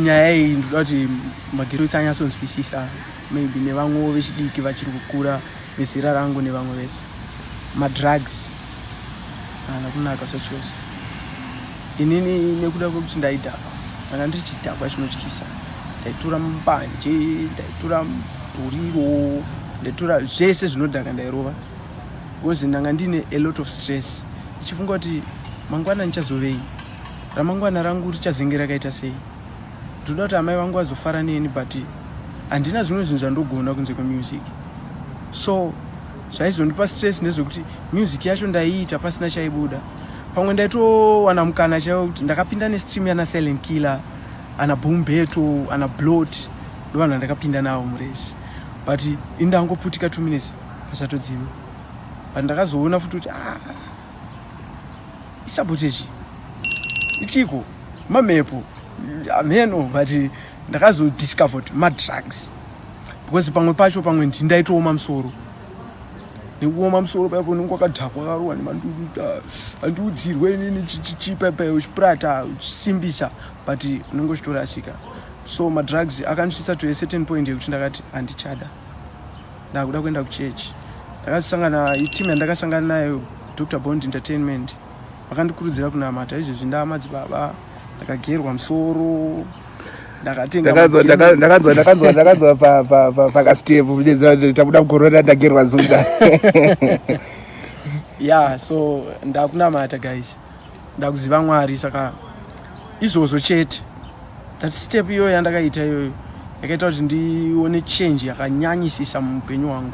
nyaya iyi ndinoda kuti magetsi anyatsonzwisisa maybe nevamwewo vechidiki vachiri kukura vezera rangu nevamwe vese madrugs haana kunaka zvachose inini nekuda kwekuti ndaidhakwa ndanga ndiri chidhakwa chinotyisa ndaitura mbanje ndaitura muduriro ndaitura zvese zvinodhaka ndairova because ndanga ndiine a lot of stress ndichifunga kuti mangwana ndichazovei ramangwana rangu richazenge rakaita sei ndinoda kuti amai vangu vazofara neni but handina zvimwe zvinhu zvandogona kunze kwemusic so zvaizondipa stress nezvekuti music yacho ndaiita pasina chaibuda pamwe ndaitowana mukana chaiwo kuti ndakapinda nestream yana silent killer ana bombeto ana blot ndovanhu vandakapinda navo murezi but indangoputika two minutes pasatodzima but ndakazoona futi kuti ah, isabotage ichiko mamepo ameno but ndakazodiscover kuti madrugs because pamwe pacho pamwe ndini ndaitooma musoro nekuoma musoro paipo unenge wakadhakwa karuwa nemanduruta andiudzirwe inini chipepe uchipurata uchisimbisa but unenge uchitorasika so madrugs akandisvitsa to a certain point yekuti ndakati handichada ndakuda kuenda kuchurch ndakasangana iteam yandakasangana nayo dr bond entertainment vakandikurudzira kunamata izvezvi ndaamadzibaba ndakagerwa musoro ndakanzwa pakastep tabuda mukorona ndagerwa zunda ya so ndakunamata guys ndakuziva mwari saka izvozvo chete that step iyoyo yandakaita iyoyo yakaita kuti ndione change yakanyanyisisa muupenyu hwangu